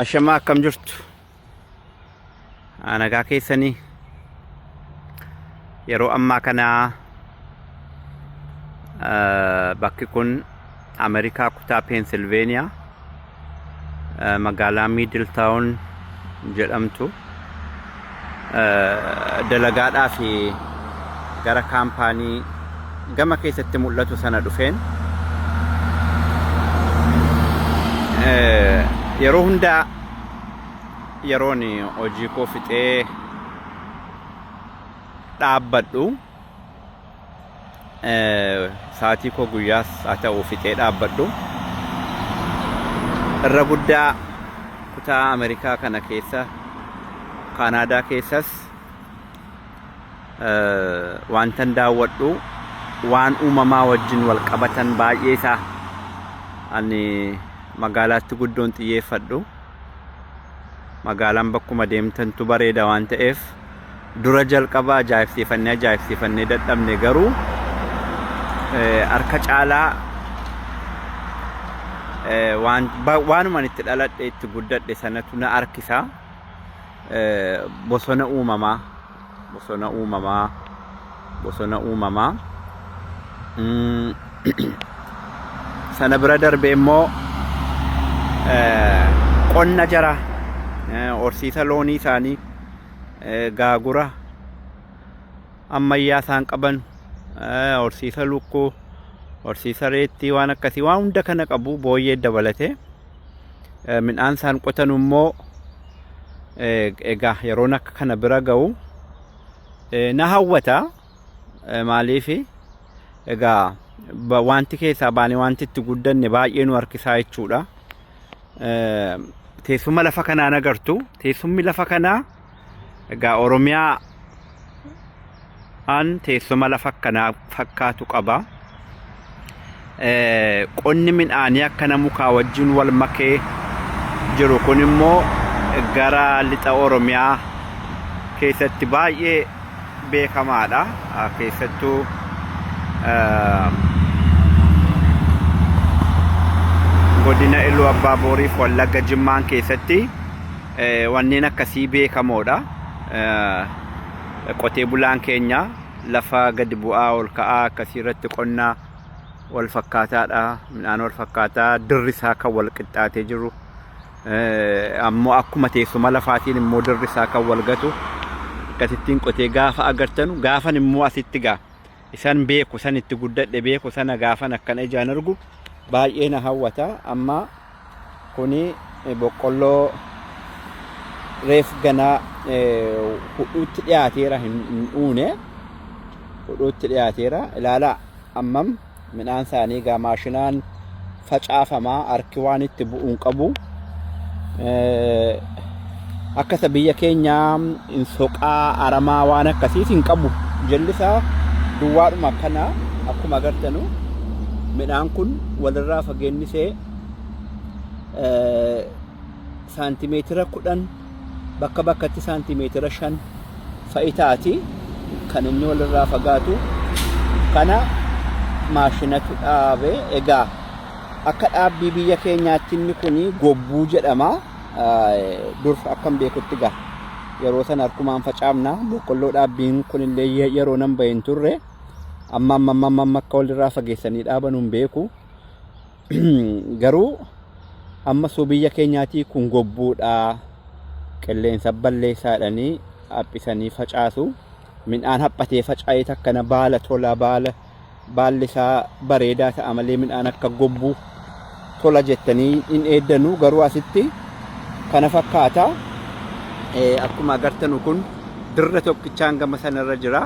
Ashamaa akkam jirtu? Nagaa keessanii yeroo ammaa kana bakki kun Ameerikaa kutaa Peensilveeniyaa magaalaa Miidil Taawun jedhamtu dalagaadhaaf gara kaampaanii gama keessatti mul'atu sana dhufeen yeroo hundaa yeroon hojii koo fixee dhaabbadhu Saatii koo guyyaas haa ta'u fixee dhaabbadhu. Irra guddaa kutaa Ameerikaa kana keessa Kaanaadaa keessas wantan daawwadhu waan uumamaa wajjin wal qabatan baay'ee isaa ani magaalaatti guddoon xiyyeeffadhu. Magaalaan bakkuma deemtantu bareeda waan ta'eef. dura jalqaba ajaa'ibsiifannee ajaa'ibsiifannee dadhabne garuu eh, harka caalaa eh, waan- ba- waanuman itti dhaladhe itti guddadhe sanatu na harkisa Eh, bosona uumamaa bosona uumamaa bosona uumamaa Mm, sana bira darbee immoo eh, qonna jara eh, horsiisa loonii isaanii gaagura ammayyaa isaan qaban horsiisa lukkuu horsiisa reettii waan akkasii waan hunda kana qabu booyyee dabalatee midhaan isaan qotan immoo egaa yeroon akka kana bira ga'u na hawwata maaliif egaa wanti keessaa baane wanti itti guddanne baay'ee nu harkisaa jechuudha. teessuma lafa kanaa hin agartu. Teessumni lafa kanaa egaa Oromiyaa an teessuma lafa kanaa fakkaatu qaba. Qonni midhaanii akkana mukaa wajjin wal makee jiru kun immoo gara lixa Oromiyaa keessatti baay'ee beekamaadha. Keessattuu godina Iluu Abbaa Booriif Wallagga Jimmaan keessatti wanneen akkasii beekamoodha. Qotee bulaan keenya lafa gadi bu'aa ol ka'aa akkasii irratti qonna wal fakkaataadha. Midhaan wal fakkaataa dirri isaa kan wal qixxaatee jiru. ammoo akkuma teessuma lafaatiin immoo dirri isaa kan wal gatu akkasittiin qotee gaafa agartanu gaafan immoo asitti gaa isan beeku san itti guddadhe beeku sana gaafan akkana ijaan argu baay'ee na hawwata amma kuni boqqolloo reef ganaa hudhuutti dhiyaateera hin uune hudhuutti dhiyaateera ilaalaa ammam Midhaan isaanii egaa maashinaan facaafama harki waan itti bu'u hin qabu. Akka isa biyya keenyaa hin soqaa aramaa waan akkasiis hin qabu. Jallisaa duwwaadhuma akkana akkuma agartanu midhaan kun walirraa fageenni isee saantimeetira kudhan bakka bakkatti saantimeetira shan fa'i taati kan inni walirraa fagaatu kana maashinatu dhaabe egaa akka dhaabbii biyya keenyaatti inni kun gobbuu jedhama dur akkan beekutti gaa yeroo sana harkumaan facaafna boqqolloo dhaabbiin kun illee yeroo nan bahin turre amma amma amma akka walirraa fageessanii dhaaban hin beeku. garuu amma suu biyya keenyaatii kun gobbuudha qilleensa balleessaadhanii haphisanii facaasu midhaan haphatee faca'ee takkana baala tola baala baalli isaa bareedaa ta'a malee midhaan akka gobbuu tola jettanii hin eeddanuu garuu asitti kana fakkaata akkuma agartanu kun dirra tokkichaan gama sanarra jira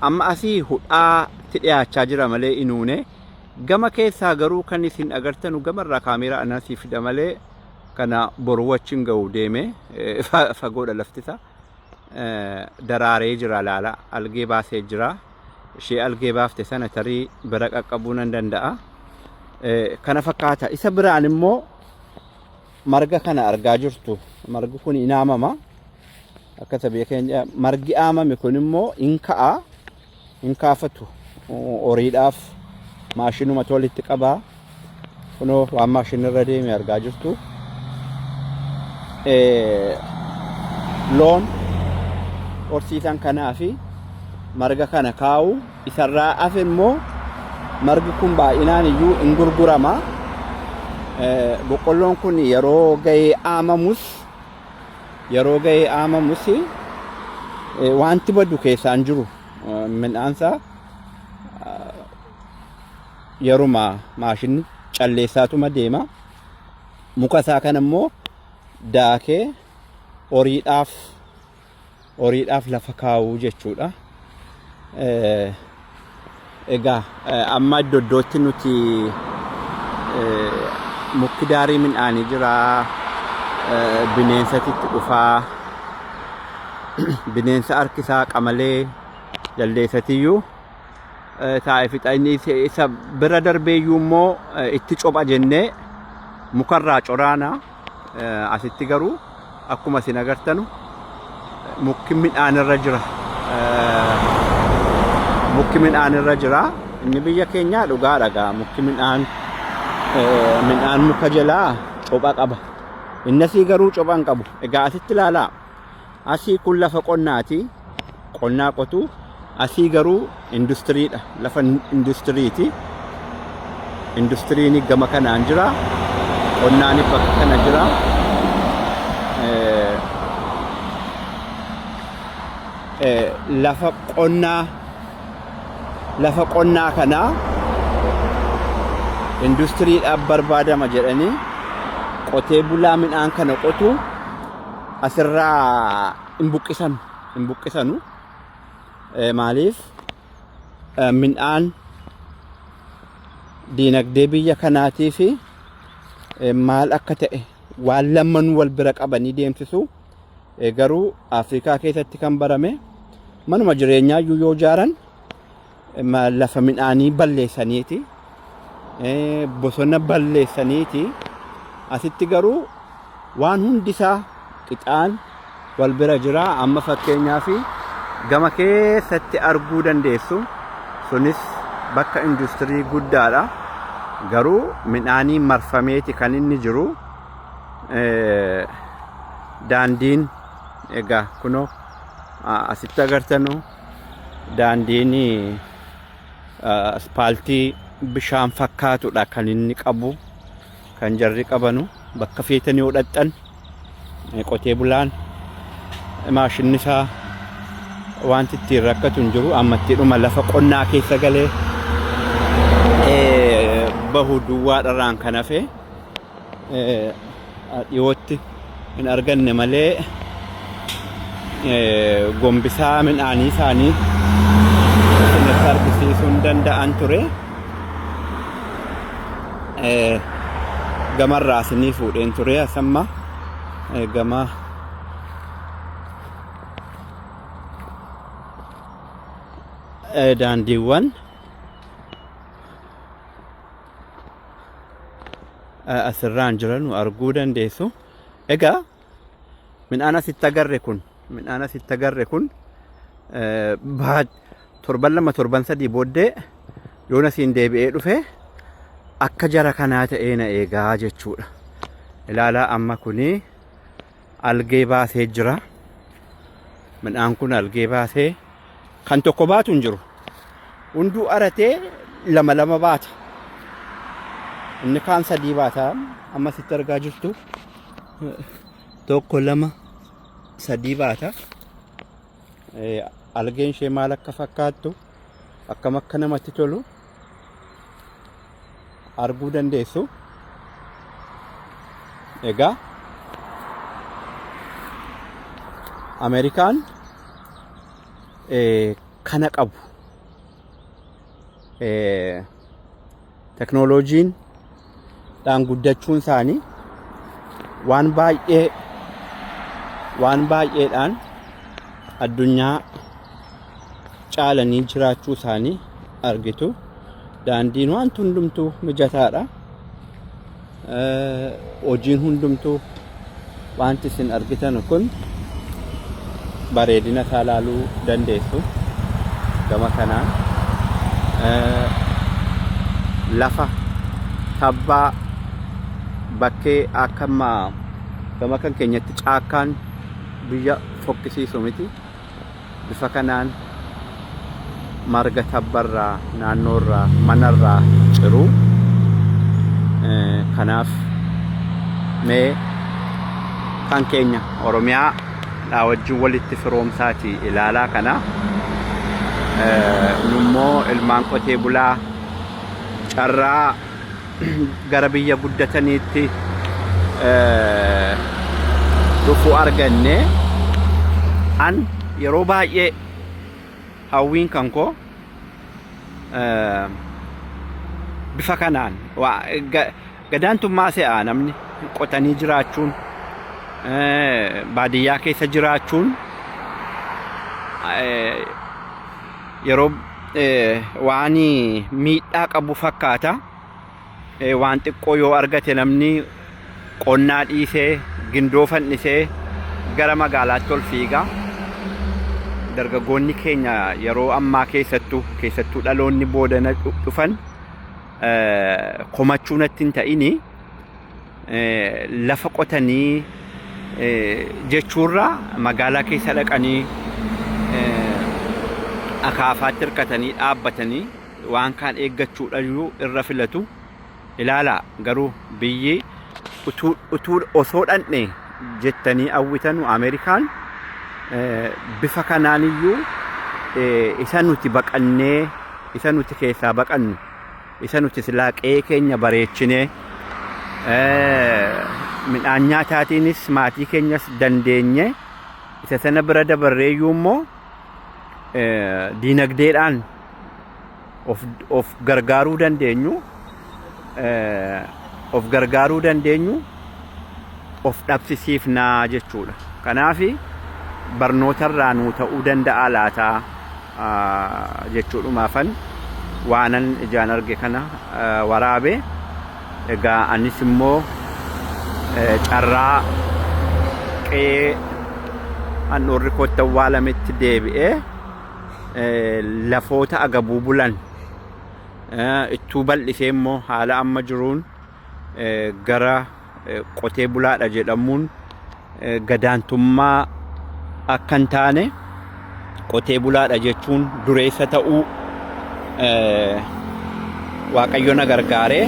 amma asii hudhaatti dhiyaachaa jira malee inuune Gama keessaa garuu kan isin agartanu gamarraa kaameeraa anaa sii fida malee kana boru wachin ga'u deeme fagoodha laftisa daraaree jira laala algee baasee jira ishee algee baafte sana tarii bira qaqqabuu nan danda'a kana fakkaata isa biraan immoo marga kana argaa jirtu margi kun inaamama akka sabiyya keenya margi aamame kun immoo in ka'a hin kaafatu horiidhaaf maashinuma tolitti qabaa kunoo waan maashinirra deeme argaa jirtu loon horsiisan kanaa fi marga kana kaa'u isarraa hafe immoo margi kun baay'inaan iyyuu hin gurgurama boqqolloon kun yeroo ga'ee aamamus yeroo ga'ee aamamus wanti badu keessaan jiru midhaansaa yeruma maashinni calleessaatuma deema. Muka isaa kana immoo daakee horiidhaaf horiidhaaf lafa kaa'uu jechuudha. Egaa amma iddo iddootti nuti mukki daarii midhaanii jira bineensatti itti dhufaa bineensa harkisaa qamalee jaldeessatiyyuu taa'ee fixa inni isa bira darbeeyyuu immoo itti copha jennee mukarraa coraana. Asitti garuu akkuma isin agartanu mukki midhaan irra jira. Mukki midhaan irra jira. Inni biyya keenyaa dhugaa dhagaa mukki midhaan midhaan muka jalaa copha qaba. Innasii garuu copha hin qabu. Egaa asitti ilaalaa. Asii kun lafa qonnaati. Qonnaa qotu. Asii garuu industiriidha. Lafa industiriiti. Industiriin gama kanaan jira. Qonnaan bakka kana jira. Lafa qonnaa lafa qonnaa kanaa industiriidhaaf barbaadama jedhanii qotee bulaa midhaan kana qotu. asirraa hin buqqisanu hin buqqisanu maaliif midhaan diinagdee biyya kanaatii fi maal akka ta'e waan lammanuu wal bira qabanii deemsisu garuu Afrikaa keessatti kan barame manuma jireenyaa iyyuu yoo ijaaran lafa midhaanii balleessaniiti bosona balleessaniiti asitti garuu waan hundi isaa qixaan wal bira jira amma fakkeenyaa fi gama keessatti arguu dandeessu sunis bakka industirii guddaadha garuu midhaanii marfameeti kan inni jiru daandiin egaa kunoo asitti agartanu Daandiin aspaaltii bishaan fakkaatudha kan inni qabu kan jarri qabanu bakka feetanii yoo dhaqxan qotee bulaan maashinni isaa wanti ittiin rakkatu hin jiru ammattiidhuma lafa qonnaa keessa galee bahu duwwaadharraan kan hafe dhiyootti hin arganne malee gombisaa midhaanii isaanii isinitti argisiisuu hin danda'an ture. Gamarraa isinii fuudheen ture asamma gama daandiiwwan. asirraan jiranu arguu dandeessu. Egaa midhaan asitti agarre kun midhaan asitti agarre kun torban lama torban sadii booddee yoon asiin deebi'ee dhufe akka jara kanaa ta'ee na eegaa jechuudha. Ilaalaa amma kuni algee baasee jira. Midhaan kun algee baasee kan tokko baatu hin jiru. Hunduu aratee lama lama baata. Inni kaan sadii baata. Amma sitti argaa jirtu tokko lama sadii baata. Algeen ishee maal akka fakkaattu akkam akka namatti tolu arguu dandeessu. Egaa Ameerikaan kana qabu. teknooloojiin dhaan guddachuun isaanii waan baay'ee waan baay'eedhaan addunyaa caalanii jiraachuu isaanii argitu daandiin waan hundumtuu mijataadha Hojiin hundumtuu wanti isin argitan kun bareedina isaa ilaaluu dandeessu. Gama kanaan lafa tabbaa bakkee akka ammaa gama kan keenyatti caakkaan biyya fokkisiisu miti. bifa kanaan marga tabbarraa naannoorraa manarraa ciru kanaaf mee kan keenya oromiyaa dhaa wajjin walitti firoomsaati ilaalaa kana nummoo ilmaan qotee bulaa carraa gara biyya guddataniitti eh, dhufu arganne an yeroo baay'ee hawwiin kan koo eh, bifa kanaan waa- ga- gadaantummaa se'aa namni qotanii jiraachuun eh, baadiyyaa keessa jiraachuun eh, yeroo waan miidhaa qabu fakkaata. Waan xiqqoo yoo argate namni qonnaa dhiisee gindoo fannisee gara magaalaatti ol fiiga. Dargaggoonni keenya yeroo ammaa keessattuu keessattuu dhaloonni boodana dhufan komachuu natti hin ta'ini. lafa qotanii jechuurraa magaalaa keessa dhaqanii akaafaatti hirkatanii dhaabbatanii waan kaan eeggachuudhayyuu irra filatu ilaalaa garuu biyyi utuu utuu osoo dhandhe jettanii hawwitanu Ameerikaan eh, bifa kanaaniyyuu eh, isa nuti baqannee isa nuti keessaa baqannu Isa nuti silaa qe'ee keenya bareechinee midhaan nyaataatiinis maatii keenyas dandeenye isa sana bira dabarreeyyuu immoo diinagdeedhaan of gargaaruu dandeenyu of gargaaruu dandeenyu of dhabsisiifnaa jechuudha. Kanaaf barnootarraa nuu ta'uu danda'a laataa? jechuudhumaafan waanan ijaan arge kana waraabe. Egaa anis immoo carraa qe'ee handhuurri koo itti awwaalametti deebi'ee lafoota agabuu bulan ittuu bal'isee immoo haala amma jiruun gara qotee bulaadha jedhamuun gadaantummaa akka hin taane qotee bulaadha jechuun dureessa ta'uu waaqayyo na gargaaree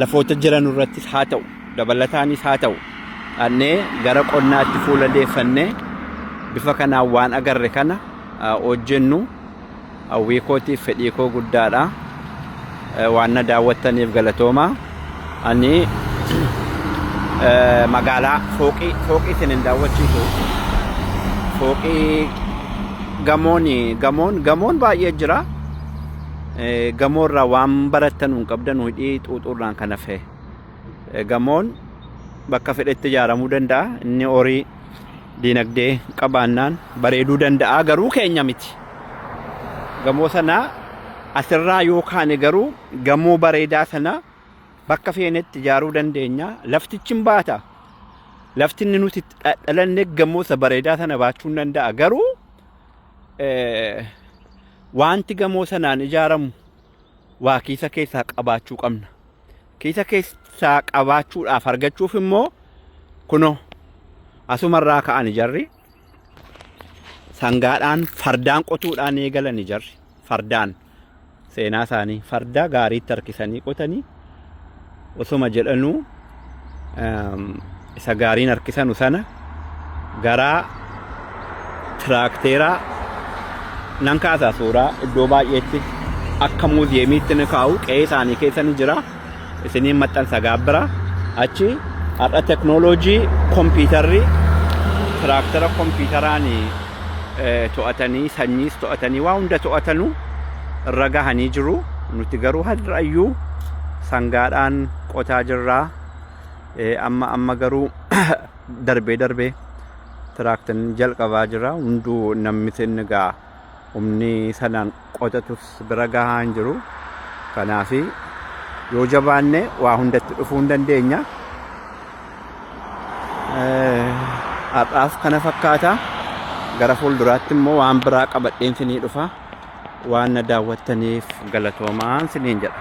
lafoota jiran irrattis haa ta'u dabalataanis haa ta'u dhannee gara qonnaatti fuula deeffannee bifa kanaan waan agarre kana hojjennu. Hawwii kootiif fedhii koo guddaadha. Waan na daawwattaniif galatooma. Ani magaalaa fooqii fooqii isin hin daawwachiisu. Fooqii gamoon gamoon gamoon baay'ee jira. Gamoo irraa waan barattan hin qabdan hidhii xuuxuu irraan kan hafe. Gamoon bakka fedhetti ijaaramuu danda'a. Inni horii Diinagdee qabaannaan bareeduu danda'a garuu keenya miti. Gamoo sana asirraa yoo kaane garuu gamoo bareedaa sana bakka feenetti ijaaruu dandeenya. Laftichi hin baata. Lafti inni nuti itti dha- dhalanne gamoo isa bareedaa sana baachuu hin danda'a garuu eh, wanti gamoo sanaan ijaaramu waa keessa keessaa qabaachuu qabna. Kiisa keessaa qabaachuudhaaf argachuuf immoo kunoo asumarraa ka'ani jarri sangaadhaan fardaan qotuudhaan eegalani jarri fardaan seenaa isaanii fardaa gaariitti harkisanii qotanii osuma jedhanuu ehm, isa gaariin harkisanu sana garaa tiraakteeraa nan kaasaa suuraa iddoo baay'eetti akka muuziyeemiitti ni kaa'u qe'ee isaanii keessa ni jira isiniin maxxansa gaabbira achi har'a teknooloojii kompiitarri tiraaktera kompiitaraan to'atanii sanyiis to'atanii waa hunda to'atanu irra gahanii jiru nuti garuu har'ayyuu sangaadhaan qotaa jirraa Amma amma garuu darbee darbee tiraaktan jalqabaa jira hunduu namni sinni ga'a humni sanaan qotatus bira gahaa hin jiru kanaaf yoo jabaanne waa hundatti dhufuu hin dandeenya har'aaf kana fakkaata gara fuulduraatti immoo waan biraa qabadheen sinii dhufa waan na daawwattaniif galatoomaa siniin jedha